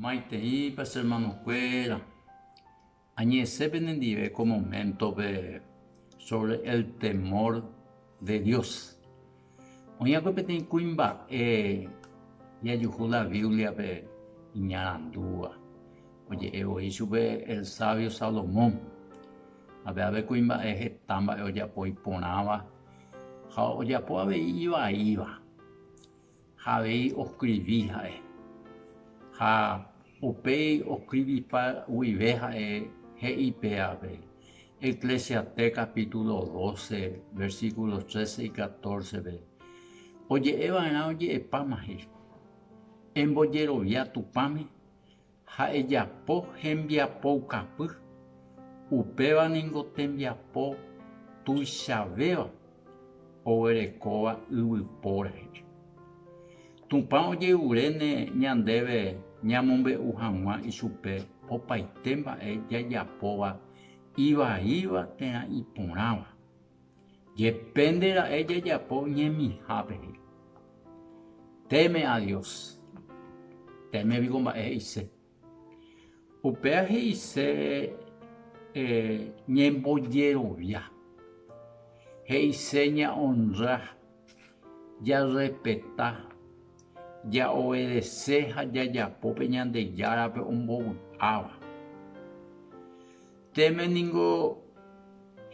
Maiteipa che hermanokuéra, añe'ẽse penendive ko moméntope sóvre el temór de Dios. Oĩ'akue peteĩ kuimba'e jajuhu la Bíbliape iñarandúva. Oje'e voi chupe el sávio Salomón. Ape'ápe kuimba'e heta mba'e ojapo iporãva ha ojapo avei ivaíva. Ha avei oskrivi ha'e. Ha upéi oskrivipa guive ha'e he'i pévape, Eclesiastés capítulo doce, versículos trece y catorce-pe, oje'eva'erã oje'epáma he'i, Embojerovia Tupãme, ha ejapo hembiapoukapy, upéva ningo tembiapo tuichavéva oguerekóva yvypóra he'i. Tupã ojeruréne ñandéve ñamombe'u hag̃ua ichupe opaite mba'e jajapóva ivaíva térã iporãva. Depende ra'e jajapo ñemihápe he'i. Teme a Dios. Teme piko mba'e he'ise. Upéva he'ise ñembojerovia. He'ise ña'onra, jarrespeta, ja'obedese ha jajapo pe Ñandejárape ombovy'áva. Teme ningo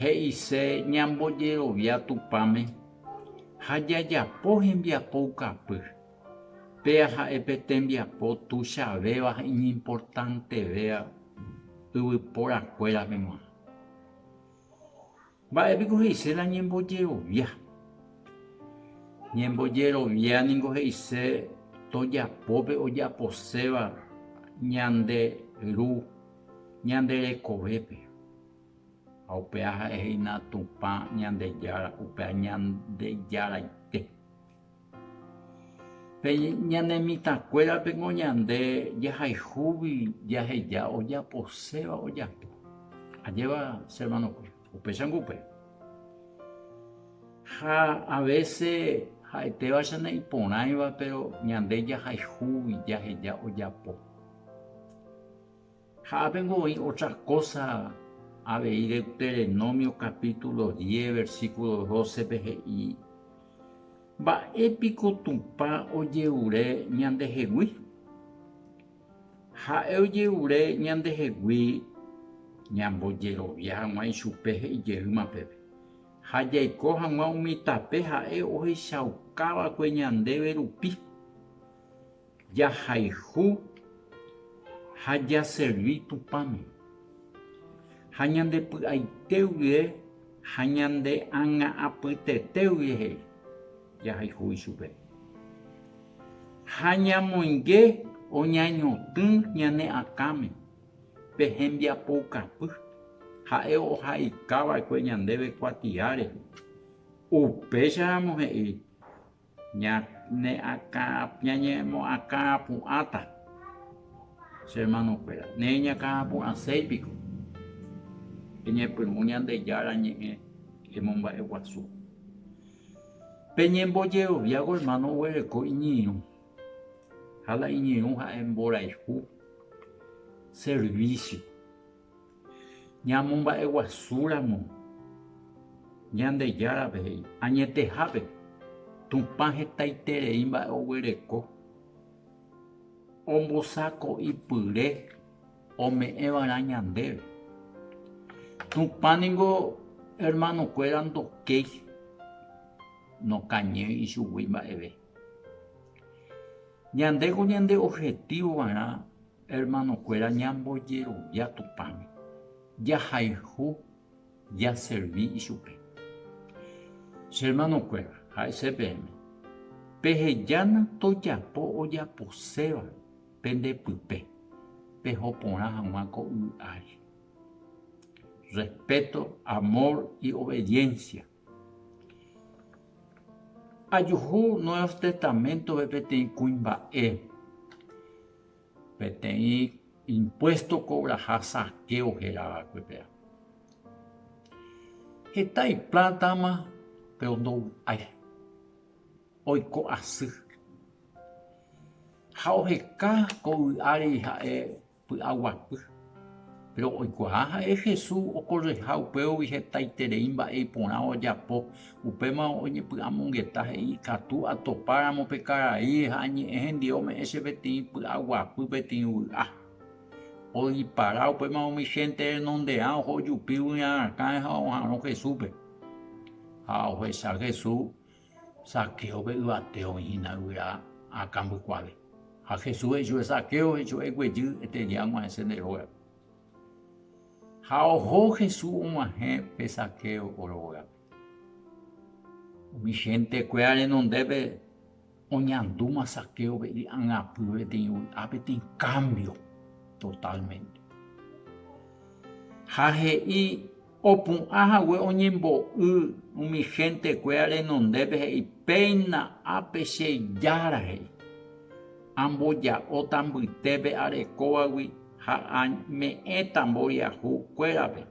he'ise ñambojerovia Tupãme ha jajapo hembiapo ukapy. Péa ha'e pe tembiapo tuichavéva ha iñimportantevéva yvypóra kuérape g̃uarã. Mba'e piko he'ise la ñembojerovia? Ñembojerovia ningo he'ise tojapo pe ojaposéva ñande Ru ñande rekovépe. Ha upéva ha'e he'ína Tupã Ñandejára, upéva Ñandejaraite. Pe ñane mitãkuérapeko ñande jahayhúgui jaheja ojaposéva ojapo. Ajépa che hermanokue, upéichango upe. Ha a vése ha'etéva che ne'iporãiva péro ñande jahayhúgui jaheja ojapo. Ha ápe niko oĩ ótra kósa avei Deuterenómio kapítulo diez versíkulo dócepe he'i, Mba'e piko Tupã ojerure ñandehegui? Ha'e ojerure ñandehegui ñambojerovia hag̃ua ichupe he'i jeýma peve, ha jaiko hag̃ua umi tape ha'e ohechauka va'ekue ñandéve rupi. Jahayhu ha jaservi Tupãme, ha ñande py'aite guie ha ñande ág̃a apytete guie he'i, jahayhu ichupe. Ha ñamoinge oñañotỹ ñane akãme pe hembiapoukapy, ha'e ohaika va'ekue ñandéve kuatia rehe. Upéicharamo he'i Ñañakãpu'ãta, che hermanokuéra, nereñakãpu'ãséi piko eñepyrũ Ñandejára Ñe'ẽ emomba'eguasu. Peñembojeroviávo hermano oguereko iñirũ, ha la iñirũ ha'e mborayhu, servicio. Ñamomba'eguasúramo Ñandejárape he'i, añetehápe Tupã hetaiterei mba'e oguereko ombosako'ipyre ome'ẽva'erã ñandéve. Tupã ningo hermanokuéra ndokéi, nokañýi ichugui mba'eve. Ñandéko ñande objetívova'erã Hermanokuéra ñambojerovia Tupãme, jahayhu jaservi ichupe. Che hermanokuéra, ha'ise peẽme, Pehejána tojapo ojaposéva pende pype, peho porã hag̃ua ko yvy ári. Respéto, amór y obediénsia. Ajuhu Nuevos Testaméntove peteĩ kuimba'e. peteĩ impuésto kovraha saqueo héra va'ekuetéva. Heta ipláta-ma péro ndovy'ái, oiko asy. Ha oheka ko vy'áre ha'e py'aguapy. Péro oikuaa ha'e Jesús okorreha upégui hetaiterei mba'e iporã ojapo, upéma oñepy'amongeta he'i, Ikatu atopáramo pe karai ha añe'ẽ hendive ome'ẽ che peteĩ py'aguapy peteĩ vy'a. Oipara upéma umi hénte renonderã oho jupi g̃uirã rakãre ha oha'arõ Jesúspe. Ha ohecha Jesús Zaquéope yvate oĩ hína yvyra akãmbykuáre. Ha Jesús he'i chupe, Zaqueo, hechu'e guejy, eteria ag̃uahẽ che nde rógape. Ha oho Jesús og̃uahẽ pe Zaqueo rógape. Umi gentekuéra renondépe oñandúma Zaquéope ijangapýva peteĩ vy'a, peteĩ kámbio totálmente. Ha he'i Opu'ã hague oñembo'y umi héntekuéra renondépe he'i, Péina ápe che Jára he'i, amboja'óta mbytépe arekóvagui ha ame'ẽta mboriahu kuérape,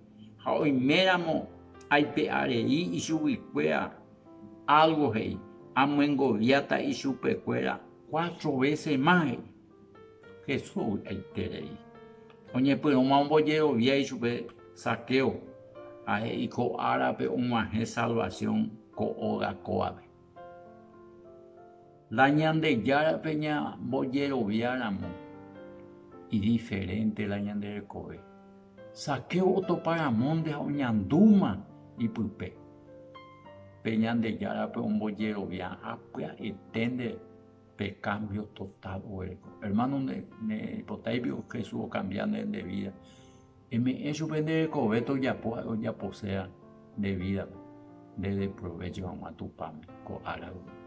ha oiméramo aipe'arei ichuguikuéra álgo he'i, amyengoviáta ichupekuéra cuatro vése más he'i. Jesús ovy'aiterei oñepyrũma ombojerovia ichupe Zaqueo, ha'e iko árape og̃uahẽ salvasiõ ko óga kóvape. La Ñandejárape ñambojeroviáramo idiferénte la ñande rekove. Zaqueo otopa ramónte ha oñandúma ipype pe Ñandejárape ombojerovia ha pya'eténte. pe kámbio totál oguerekóva. Ermáno naipotáipi Jesús okambiá nde vída. Eme'ẽ chupe nde rekove tojapo ha'e ojaposéva nde vídape, ndede provécho hag̃ua Tupãme ko árape.